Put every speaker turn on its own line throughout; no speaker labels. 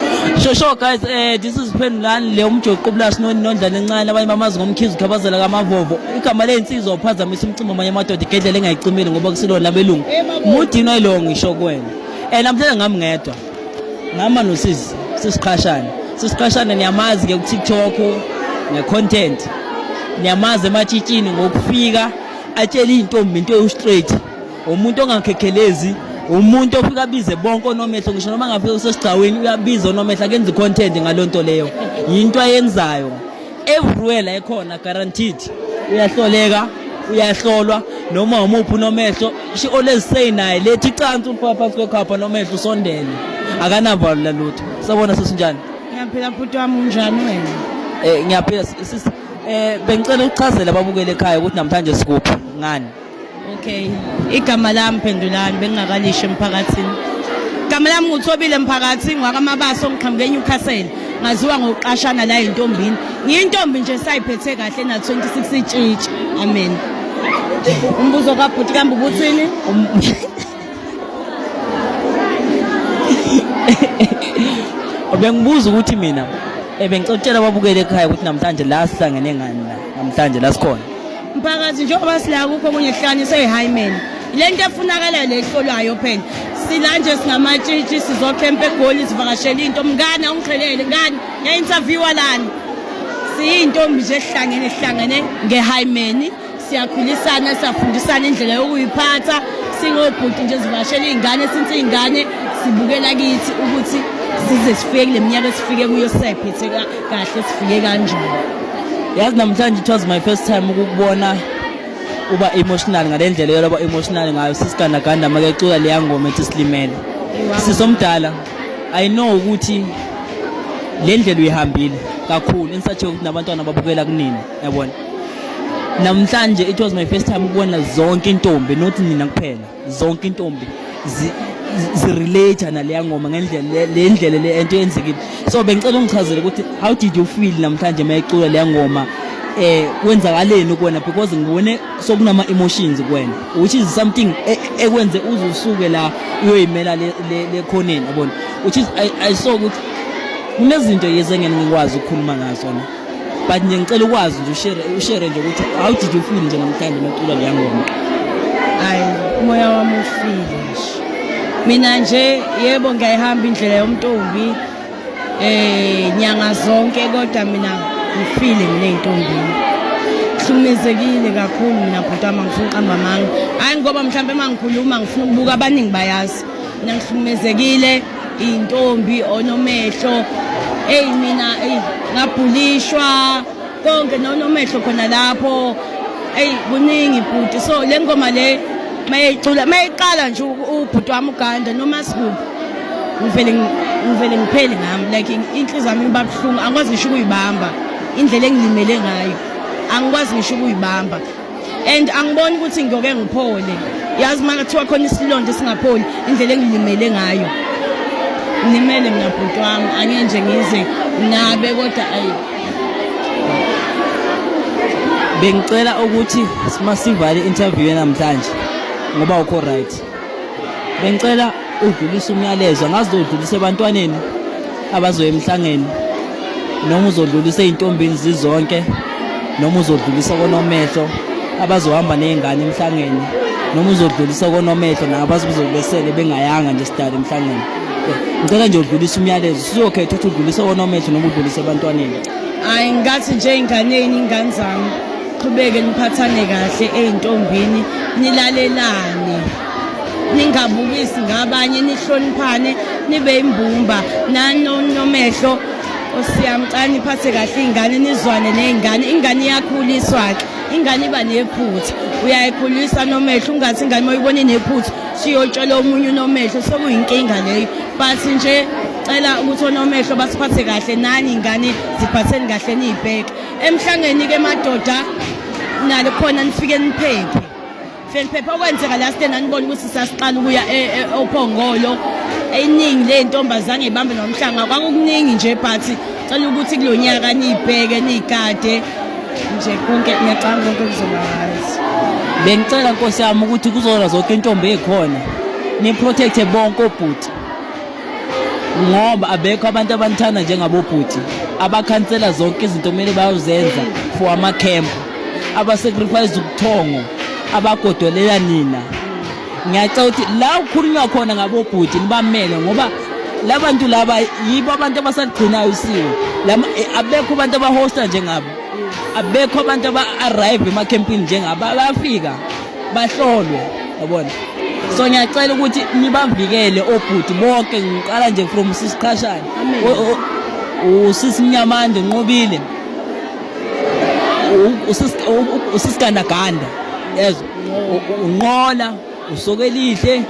Sure, sure guys, eh this is Phendulani le umjoqo plus no nondlana encane abanye bamazi ngomkhizi ukhabazela kamavovo. Igama lensizwa uphazamisa umcimbi amanye amadoda igedlela engayicimile ngoba kusilona abelungu. Mudino ilo ngisho kuwena. Eh namhlanje ngami ngedwa. Ngama nosisi sisiqhashana. Sisiqhashana niyamazi ke ku TikTok ne content. Niyamazi ematshitshini ngokufika atshela izintombi into ewu straight. umuntu ongakhekhelezi umuntu ofika abize bonke onomehlo ngisho noma ngafika usesigcawini uyabiza onomehlo akenza i-content ngaloo nto leyo yinto ayenzayo everywhere la ekhona guaranteed uyahloleka uyahlolwa noma umuphi unomehlo she always say naye lethi icansi uliphaphasi kwekhapha nomehlo usondele akanavalo lalutho sabona sesinjani ngiyaphila bhuti wami
unjani wena um ngiyaphila sisi
um bengicela ukuchazela ababukele ekhaya ukuthi namhlanje sikuphi ngani Okay.
Igama lami Phendulani bengingakalisho emphakathini. Igama lami nguThobile Mphakathi ngwakamabasa ongiqhamuke eNewcastle. Ngaziwa ngokuqashana la entombini. Ngiyintombi nje sayiphethe kahle na 26 itshitshi. Amen. Umbuzo kabhuti kambe ubuthini? Um-
Bengibuza ukuthi mina ebengicela babukele ekhaya ukuthi namhlanje la sihlangene ngani la namhlanje la sikhona. Mphakathi njengoba
sila kukho okunye kuhlanye seyi-hymen le nto efunakalayo le ehlolwayo phela sila nje singamatshitshi sizokhempa egoli sivakashele into mngane awungixhelele ngani ya-interviewa lani siyintombi nje ehlangene sihlangene ngehaymeni siyakhulisana siyafundisana indlela yokuyiphatha singobhuti nje zivashela iy'ngane since iy'ngane sibukela kithi ukuthi size sifike kule minyaka esifike kuyo sisayiphethe kahle sifike kanjani yazi
namhlanje it was my first time ukukubona uba emotional ngale ndlela yoloba emotional ngayo sisigandaganda make ecula leya ngoma ethi silimele sisomdala i know ukuthi le ndlela uyihambile kakhulu insathi ukuthi nabantwana babukela kunini yabona namhlanje it was my first time ukubona zonke intombi not nina kuphela zonke intombi zirelate naleya ngoma ngendlela le ndlela le ento yenzekile so bengicela ungichazele ukuthi how did you feel namhlanje uma icula leya ngoma eh kwenzakaleni kuwena because ngibone sokunama emotions kuwena which is something e, ekwenze uzusuke la uyoyimela le le khoneni yabona which is i, I saw ukuthi kunezinto yezengene ngikwazi ukukhuluma ngazo na but nje ngicela ukwazi nje ushare ushare nje ukuthi how did you feel nje namhlanje umculo leya ngoma hayi
umoya wami ufile nje mina nje yebo ngiyayihamba indlela yomntombi eh nyanga zonke kodwa mina ngifile mina entombini hlukumezekile kakhulu mina bhuti wami angifuni uqamba amanga hayi ngoba mhlawumbe uma ngikhuluma ngifuna ukubuka abaningi bayazi mina ngihlukumezekile iy'ntombi onomehlo eyi mina eyi ngabhulishwa konke nonomehlo khona lapho eyi kuningi bhuti so le ngoma le mayeyicula mayeyiqala nje ubhuti wami uganda noma sikuphi ngivele ngivele ngipheli ngami like inhliziyo yami iba buhlungu angikwazi ngisho ukuyibamba indlela engilimele ngayo angikwazi ngisho ukuyibamba and angiboni ukuthi ngiyoke ngiphole yazi uma kuthiwa khona isilonda esingapholi indlela engilimele ngayo ngimele mina bhuti wami angeke nje ngize nabe kodwa ayi
bengicela ukuthi masivale interview namhlanje ngoba ukho right bengicela udlulise umyalezo angazi udlulise ebantwaneni abazoya emhlangeni noma uzodlulisa ezintombini zizonke noma uzodlulisa konomehlo abazohamba nezingane emhlangeni noma uzodlulisa konomehlo nabazi kuzobesele bengayanga nje sidala emhlangeni ngicela nje udlulisa umyalezo siyokhetha ukuthi udlulisa konomehlo noma udlulisa ebantwaneni hayi ngathi
nje ingane yini ingane zami qhubeke niphathane kahle ey'ntombini nilalelane ningabukisi ngabanye nihloniphane nibe imbumba nanonomehlo osiyamcane niphathe kahle iy'ngane nizwane ney'ngane ingane iyakhuliswa-ke ingane iba nephutha uyayikhulisa nomehlo ungathi ingane uma uyibona inephutha siyotshelwa omunye unomehlo sekuyinkinga leyo but nje cela ukuthi onomehlo basiphathe kahle nani ingane ziphatheni kahle niyibheke emhlangeni ke madoda nalo khona nifike niphephe fike niphephe okwenzeka la sithe nanibona ukuthi sasiqala ukuya e, e, ophongolo eyiningi le ntombazane ibambe nomhlanga kwakukuningi nje but cela ukuthi kulo nyaka niyibheke niyikade nje konke ngiyacanga konke kuzobazi bengicela
nkosi yami ukuthi kuzona zonke intombi ezikhona niprotecte bonke obhuti ngoba abekho abantu abanithanda njengabobhuti abakhansela zonke izinto kumele bayozenza for amakhempu abasacrifice ubuthongo abagodolela nina ngiyacela ukuthi la ukhulunywa khona ngabobhuti nibamele ngoba labantu laba yibo abantu abasaligcinayo usiko eh, abekho abantu abahosta njengabo abekho abantu aba-arrive emakhempini njengabo bayafika bahlolwe yabona so ngiyacela ukuthi nibavikele obhuti bonke ngiqala nje from sisiqhashana usisimnyamande nqobile usisigandaganda yezwa unqola usokelihle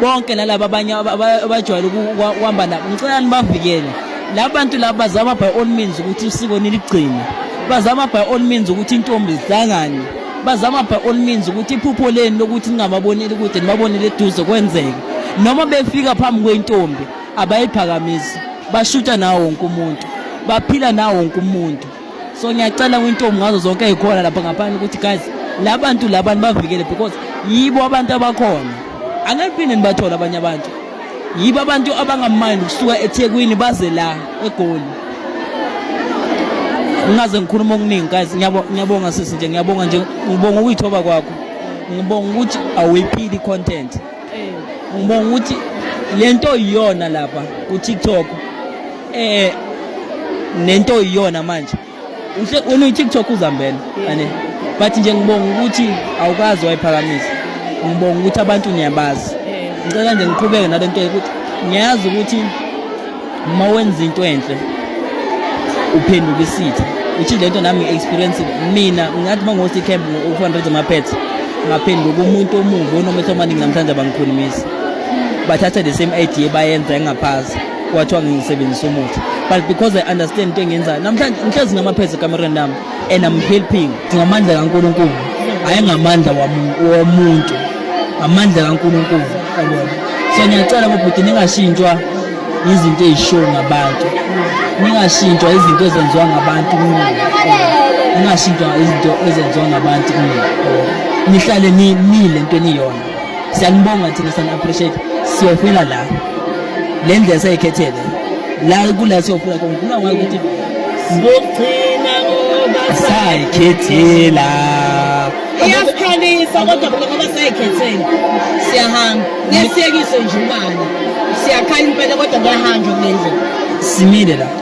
bonke nalaba abanye abajwayele ukuhamba nabo ngicela nibavikele laba bantu laba bazama by all means ukuthi usiko niligcine bazama by all means ukuthi intombi zihlangane bazama by all means ukuthi iphupho leni lokuthi ningababoneli kude nibabonele eduze kwenzeke noma befika phambi kwentombi abayiphakamisi bashuta nawo wonke umuntu baphila nawo wonke umuntu so ngiyacela kwintombi ngazo zonke ezikhona lapha ngaphandle ukuthi guys la bantu laba nibavikele because yibo abantu abakhona angeke phinde nibathole abanye abantu yibo abantu abangamani kusuka eThekwini baze la eGoli ngingaze ngikhuluma okuningi guys ngiyabonga sisi nje ngiyabonga nje ngibonga ukuyithoba kwakho ngibonga ukuthi awuyiphili content ngibonga ukuthi lento iyona lapha ku TikTok eh nento iyona manje wena uyi-tiktok uzambela ane but nje ngibonga ukuthi awukazi wayiphakamisa ngibonga ukuthi abantu niyabazi ngicela nje ngiqhubeke nale nto ukuthi ngiyazi ukuthi uma wenza into enhle uphenduka isitha uthi le nto nami ngi-experience mina ngathi uma ngosi camp u-fundraise amaphetha ngaphenduka umuntu omubi onometha amaningi namhlanje abangikhulumisi bathatha the same idea bayenza engaphasi kwathiwa ngisebenzisa umuthi but because i understand into engenzayo namhlanje ngihlezi ngamaphezi ekamereni lami and i'm helping ngamandla kankulunkulu hhayi ngamandla womuntu ngamandla kankulunkulu yabona so ngiyacela bobhuti ningashintshwa izinto ezishiwo ngabantu ningashintshwa izinto ezenziwa ngabantu kumina ningashintshwa izinto ezenziwa ngabantu kumina nihlale nile nto eniyona siyanibonga thina sana appreciate siyofela la le ndlela seyikhethele la kula siyofela khona kula wayo ukuthi sizogcina
ngoba sayikhethela
iyasikhalisa
kodwa bona ngoba sayikhethela siyahamba ngesiyekiso nje imali siyakhala impela kodwa kuyahanjwa kule ndlela simile la